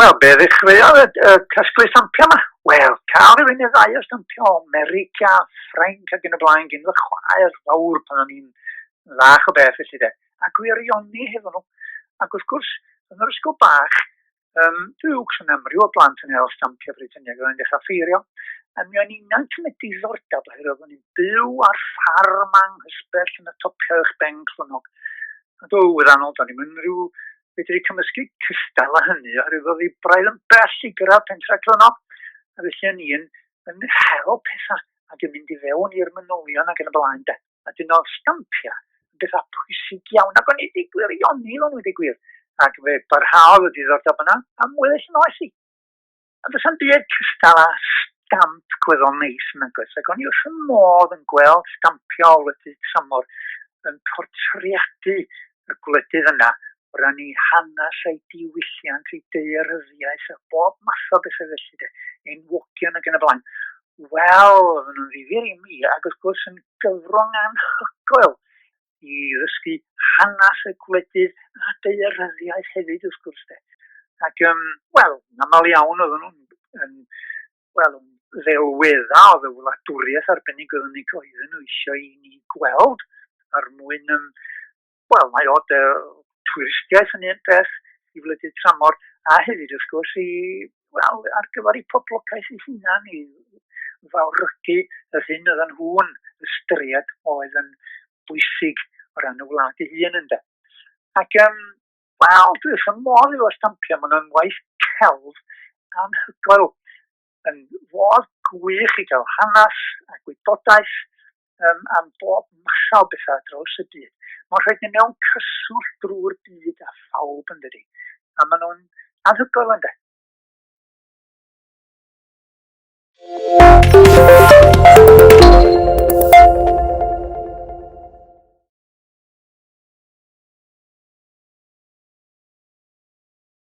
Wel, be ddechreuodd y, y casglu stampio yma? Wel, cael rhywun i ddau o stampio America, Ffrainc ac yn y blaen gyn fy chwaer fawr pan o'n i'n fach o beth felly de. A gwirioni hefo nhw. Ac wrth gwrs, yn yr ysgol bach, Um, Duwcs yn amryw o blant yn hel stampiau Brytaniaid yn dechrau ffeirio, a mi o'n i'n yn y diddordeb oherwydd o'n i'n byw ar ffarm anghysbell yn y topiau eich ben clonog. A do, wirannol, do'n i'n mynd rhyw fedru cymysgu cystal a hynny, oherwydd oedd ei braidd yn bell i gyrraedd pentra clonog, a felly o'n i'n yn hel pethau ac yn mynd i fewn i'r manylion ac yn y blaen de. a dyn nhw'n stampio yn bethau pwysig iawn ac o'n i wedi gwir i oni o'n wedi gwir ac fe barhaodd y diddordeb yna am weddill yn oes i. Ond does am byd cystal â stamp gweddol neis yn agos ac o'n i wrth y modd yn gweld stampio o wledydd tramor yn portreadu y gwledydd yna o ran ei hanes a'i diwylliant, ei daearyddiaeth a bob math o bethau felly de, enwogion ac yn y blaen. Wel, oedden nhw'n ddifur i mi, ac wrth gwrs yn gyfrwng anhygoel i ddysgu hanes y gwledydd a daearyddiaeth hefyd wrth gwrs de. Ac, um, wel, yn aml iawn oedden nhw'n, yn, wel, yn ddelwedda oedd y wladwriaeth arbennig oedden nhw eisiau i ni gweld ar mwyn um, Wel, mae o'r de, twristiaeth yn un peth i wledydd tramor, a hefyd, wrth gwrs, i, wel, ar gyfer ei poblogaeth ei hunan, i fawrygu yr hyn oedden nhw'n ystyried oedd yn bwysig o ran y wlad ei hun ynddo. Ac, um, wel, dwi wrth y modd efo stampio, mae yna'n waith celf anhygoel yn fodd gwych i gael hanes a gwybodaeth um, am bob mathau o bethau draws y byd. Mae'n rhaid ni mewn cyswllt drwy'r byd a phawb yn dydi. A maen nhw'n anhygoel ynddo.